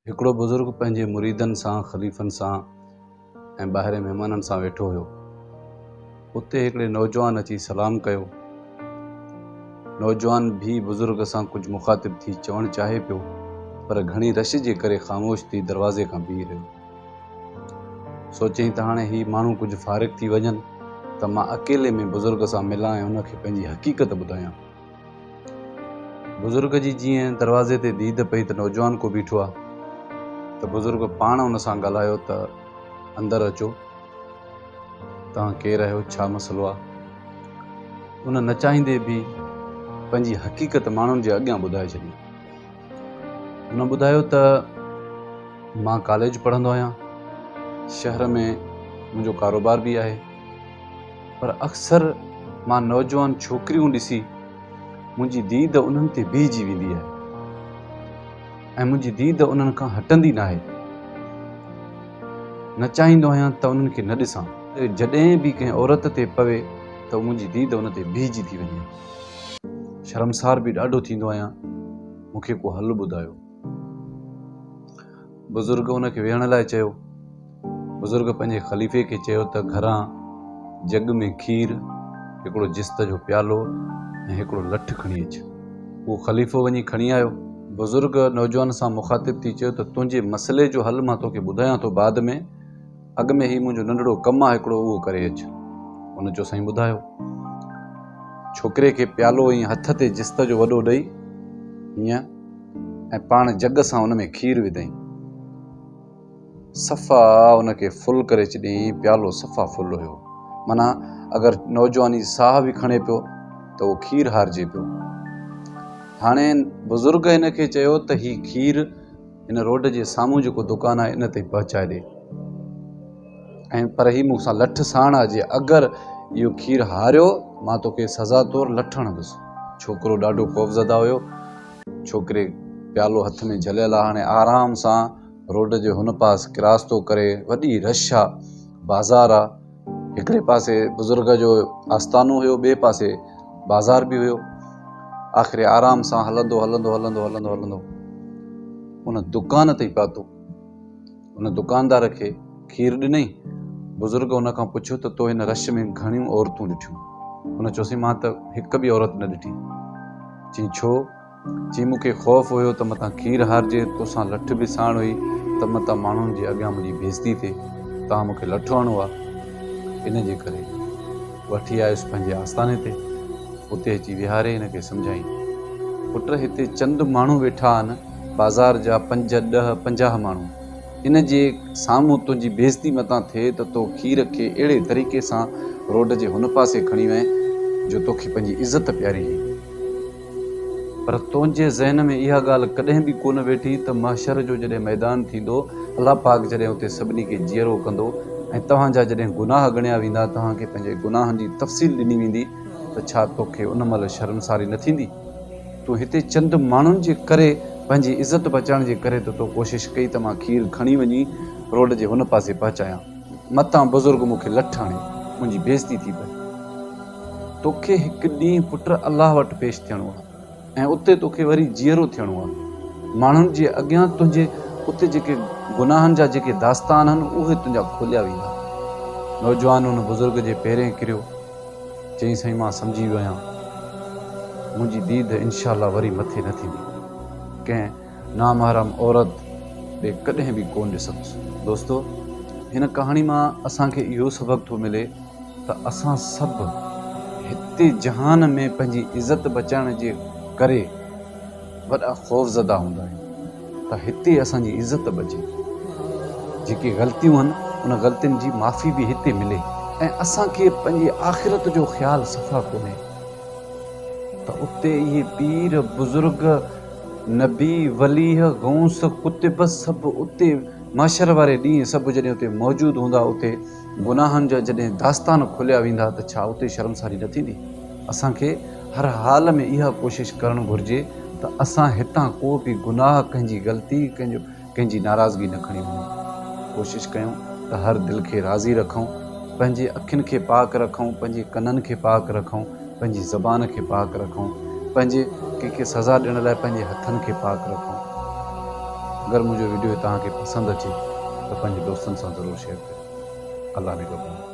هڪڙو بزرگ پنهنجي مريدن سان، خليفن سان ۽ ٻاهرين مهمانن سان ويٺو هيو. اتي هڪڙي نوجوان اچي سلام ڪيو. نوجوان ڀي بزرگ سان ڪجهه مخاطب ٿي چوڻ چاهي پيو پر گهڻي رش جي ڪري خاموش ٿي دروازي کان بيهي رهيو. سوچيائين ته هاڻي هي ماڻهو ڪجهه فارغ ٿي وڃن ته مان اڪيلي ۾ بزرگ سان ملان ۽ ان کي پنهنجي حقيقت ٻڌايان. بزرگ جي جيئن دروازي تي ديد پئي ته نوجوان ڪو بيٺو آ ته بزرگ پاڻ ان سان ڳالهايو ته اندر اچو توهان ڪير آهيو ڇا مسئلو آ ان نه چاهيندي به پنهنجي حقيقت ماڻهن جي اڳيان ٻڌائي ڇڏي ان ٻڌايو ته مان ڪاليج پڙهندو آهيان شهر ۾ منهنجو ڪاروبار به آهي پر اڪثر مان نوجوان ڇوڪريون ڏسي منهنجي ديد انهن تي بيهجي ويندي آهي ۽ منهنجي ديد انهن کان هٽندي نه آهي نه چاهيندو آهيان ته انهن کي نه ڏسان جڏهن به ڪنهن عورت تي پوي ته منهنجي ديد ان تي بيهجي ٿي وڃي شرمسار به ڏاڍو ٿيندو آهيان مون کي ڪو حل ٻڌايو بزرگ ان کي ويهڻ لاء چيو. بزرگ پنهنجي خليفي کي چيو ته گهران جڳ ۾ کير، هڪڙو جست جو پيالو ۽ هڪڙو لٺ کڻي اچ. اهو خليفو وڃي کڻي آيو. بزرگ نوجوان سان مخاطب ٿي چيو ته تنهنجي مسئلي جو حل مان توکي ٻڌايان ٿو بعد ۾. اڳ ۾ هي منهنجو ننڍڙو ڪم آ هڪڙو اهو ڪري اچ. هن چيو سائين ٻڌايو. ڇوڪري کي پيالو ائين هٿ تي جست جو وڏو ڏئي هينئن ۽ پاڻ جڳ سان ان ۾ کير وڌائين. صفا ان کي ڦل ڪري چڏيائين پيالو صفا ڦل هيو. معنيٰ اگر نوجواني ساهه به کڻي پيو ته اهو کير هارجي پيو. هاڻي بزرگ هن کي چيو ته هي کير. ان روڊ جي سامهون جيڪو دڪان آهي ان تائين پهچائي ڏي ۽ پر هي مون سان لٺ ساڻ آ جي اگر اهو کير هاريو مان توکي سزا طور لٺ هڻندس ڇوڪرو ڏاڍو خوفزده هيو ڇوڪري پيالو هٿ ۾ جهليل آ هاڻي آرام سان روڊ جي هن پاس ڪراس ٿو ڪري وڏي رش آ بازار آ هڪڙي پاسي بزرگ جو آستانو هيو ٻئي پاسي بازار به هيو آخر آرام سان هلندو هلندو هلندو هلندو هلندو ان دڪان تي پاتو ان دڪاندار کي کير ڏنئي بزرگ ان کان پڇيو ته تو هن رش ۾ گهڻيون عورتون ڏٺيون ان چوسي مان ته هڪ به عورت نه ڏٺي چي ڇو چي مون کي خوف هيو ته متان کير هارجي، توسان لٺ به ساڻ هئي ته متان ماڻهن جي اڳيان منهنجي بيزتي ٿئي، توهان مون کي لٺ هڻو ها، ان جي ڪري وٺي آيس پنهنجي آستاني تي، اتي اچي ويهاري هن کي سمجهايائين، پٽ هتي چند ماڻهو ويٺا آهن، بازار جا پنج، ڏهه، پنجاهه ماڻهو، ان جي سامهون تنهنجي بيزتي متان ٿئي ته تو کير کي اهڙي طريقي سان روڊ جي هن پاسي کڻي وڃ جو توکي پنهنجي عزت پياري هئي. پر تنهنجي ذهن ۾ اها ڳالهه ڪڏهن به ڪونه ويٺي ته محشر جو جڏهن ميدان ٿيندو، الله پاڪ جڏهن اتي سڀني کي جيئرو ڪندو ۽ توهان جا جڏهن گناهه ڳڻيا ويندا، توهان کي پنهنجي گناهن جي تفصيل ڏني ويندي ته ڇا توکي ان مهل شرمساري نه ٿيندي؟ تون هتي چند ماڻهن جي ڪري پنهنجي عزت بچائڻ جي ڪري ته تو ڪوشش ڪئي ته مان کير کڻي وڃي روڊ جي هن پاسي پهچايان. متان بزرگ مون کي لٺ هڻي منهنجي بيعزتي ٿي پئي. توکي هڪ ڏينهن پٽ الله وٽ پيش ٿيڻو آهي ۽ اتي توکي وري جيئرو ٿيڻو آهي. ماڻهن جي اڳيان تنهنجي اتي جيڪي گناهن جا جيڪي داستان آهن اهي تنهنجا کوليا ويندا. نوجوان ان بزرگ جي پيرين ڪريو. چيائين سائين مان سمجهي ويو آهيان. منهنجي ديد انشاء الله وري مٿي نه ٿيندي. ڪنهن. نامحرم عورت ڏي ڪڏهن به ڪونه ڏسندس. دوستو هن ڪهاڻي مان اسان کي اهو سبق ٿو ملي ته اسان سڀ هتي جهان ۾ پنهنجي عزت بچائڻ جي ڪري وڏا خوفزده هوندا آهيون ته هتي اسان جي عزت بچي جيڪي غلطيون هن ان غلطين جي معافي به هتي ملي ۽ اسان کي پنهنجي آخرت جو خيال صفا ڪونهي ته اتي اهي پير بزرگ نبي، وليه، غوث، قطب سڀ اتي محشر واري ڏينهن سڀ جڏهن اتي موجود هوندا اتي گناهن جا جڏهن داستان کوليا ويندا ته ڇا اتي شرمساري نه ٿيندي؟ اسان کي هر حال ۾ اها ڪوشش ڪرڻ گهرجي ته اسان هتان ڪو به گناهه ڪنهن جي غلطي ڪنهن جو ڪنهن جي ناراضگي نه کڻي وڃون ڪوشش ڪيون ته هر دل کي راضي رکون پنهنجي اکين کي پاڪ رکون پنهنجي ڪنن کي پاڪ رکون پنهنجي زبان کي پاڪ رکون پنهنجي ڪنهن کي سزا ڏيڻ لاء پنهنجي هٿن کي پاڪ رکون اگر منهنجو ويڊيو توهان کي پسند اچي ته پنهنجي دوستن سان ضرور شيئر ڪيو الله نگهبان